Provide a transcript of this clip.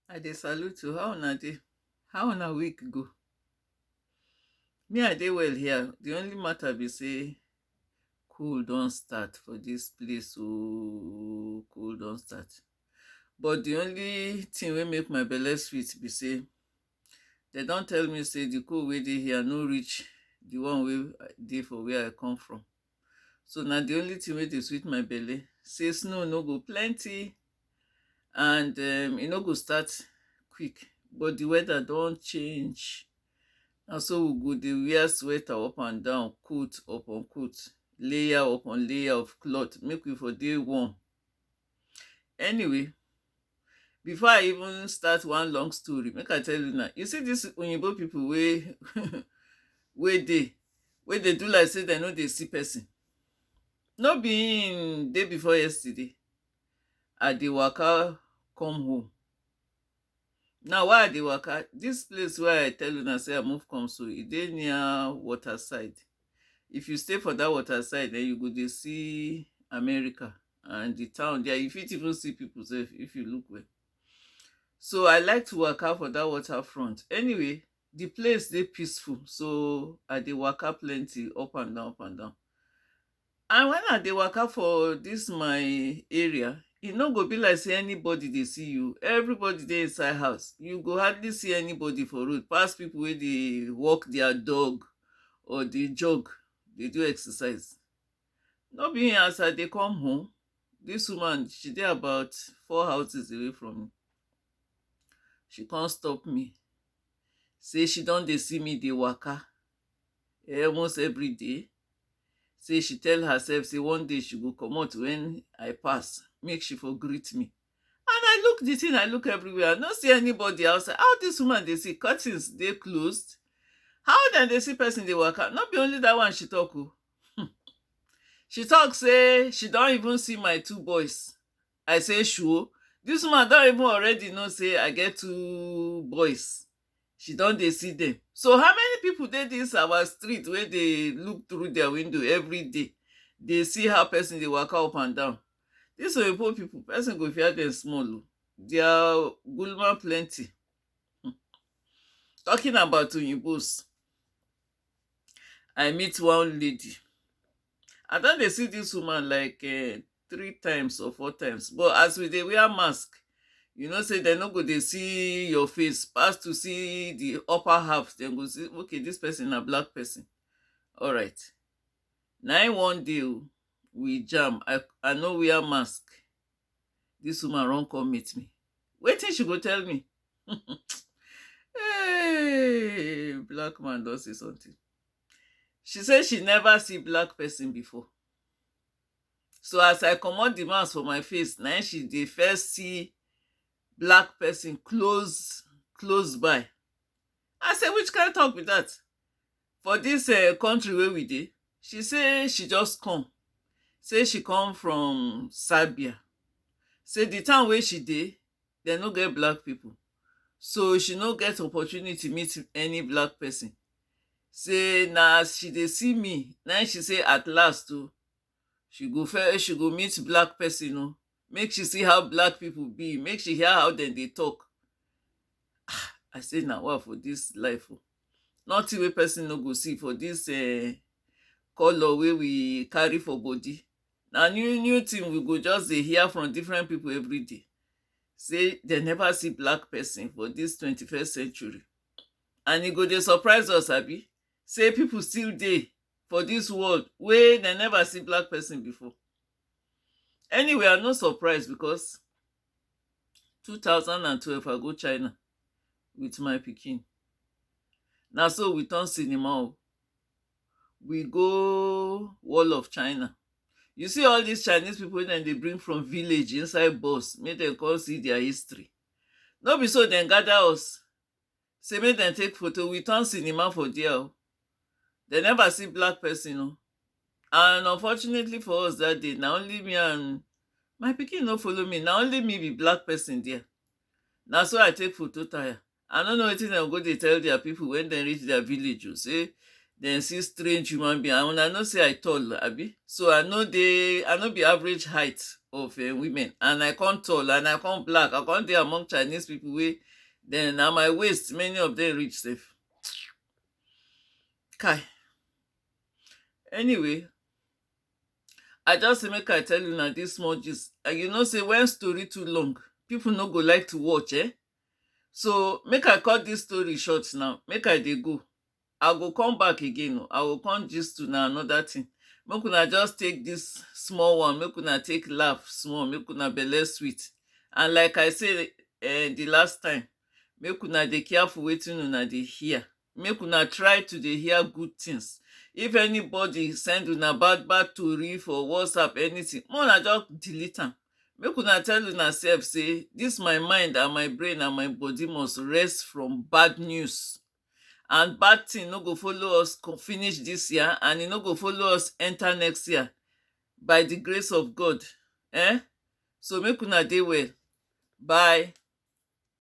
I dey salute you. How una dey? How una week go? Me, I dey well here. The only matter be say cool don start for this place. Oh, cool don start. But the only thing wey make my belle sweet be say they don tell me say the cold wey dey here no reach the one wey dey for where I come from. so na the only thing wey dey sweet my belle say snow no go plenty and um, e no go start quick but the weather don change na so we go dey wear sweater up and down coat upon coat layer upon layer of cloth make we for dey warm Anyway, before I even start one long story, make I tell you now. You see these Oyinbo people wey wey dey wey dey do like say dem no dey see person. No be im day before yesterday, I dey waka come home. Now why I dey waka, this place wey I tell una say I move come so, e dey near water side. If you stay for that water side, then you go dey see America and the town there. You fit even see people sef if you look well. So I like to waka for that water front. Anyway, the place dey peaceful, so I dey waka plenty up and down, up and down. And wen I dey waka for dis my area, e no go be like sey anybody dey see you, everybody dey inside house, you go hardly see anybody for road pass pipu wey dey walk dia dog or dey jog dey do exercise. No be um as I dey come home, dis woman she dey about four houses away from me, she kon stop me sey she don dey see me dey waka almost everyday. say she tell herself say one day she go comot when i pass make she for greet me and i look the thing i look everywhere i no see anybody outside how this woman dey see curtains dey closed how dem dey see person dey waka no be only that one she talk o Hmm. she talk say she don even see my two boys i say sure this woman don even already know say i get two boys she don dey see dem so how many people dey this our street wey dey look through their window everyday dey see how person dey waka up and down this oyibo people person go fear them small o their gulma plenty um talking about oyinbos I meet one lady I don dey see this woman like um three times or four times but as we dey wear mask you know say dem no go dey see your face pass to see the upper half dem go see okay this person na black person all right na im one day o we jam i i no wear mask this woman run come meet me wetin she go tell me hey black man don say something she say she never see black person before So as I comot the mask for my face, na im she dey first see black person close close by. I say which kind talk be that for this um country wey we dey? She say she just come, say she come from Serbia, say the town wey she dey dem no get black people, so she no get opportunity meet any black person. sey na as she dey see me na im she sey at last o she go first she go meet black person o make she see how black people be make she hear how dem dey talk ah i sey na wa for this life o nothing wey person no go see for this um colour wey we carry for body na new new thing we go just dey hear from different people everyday sey dem never see black person for this twenty first century And e go dey surprise us abi sey pipu still dey for dis world wey de never see black pesin before. Anyway, I no surprise becos two thousand and twelve I go China with my pikin. Na so we turn cinema oh. We go wall of China. You see all dis Chinese pipu wey de dey bring from village inside bus make de con see dia history. No be so de gather us Say make dem take photo we turn cinema for dia oh Dem never see black person oh And unfortunately for us that day Na only me and My pikin no follow me Na only me be black person dia Na so I take photo tire I no know wetin dem go dey tell dia people when dem reach dia village oh Say dem see strange human being And una know say I tall abi So I no dey I no be average height of eh women And I come tall and I come black I come dey among Chinese people wey Then na my waist many of them reach sef. Kai. Anyway, I just say make I tell you na this small gist. And you know say when story too long, people no go like to watch, eh? So make I cut this story short now. Make I dey go. I go come back again o, I go come gist una another thing. Make una just take this small one, make una take laugh small, make una belle sweet. And like I say um the last time, make una dey careful wetin una dey hear. Make una try to dey hear good things. If anybody send una bad bad tori for WhatsApp, anything, make una just delete am. Make una tell una self say this my mind and my brain and my body must rest from bad news. and bad thing no go follow us co finish this year and e no go follow us enter next year by the grace of God eh so make una dey well bye.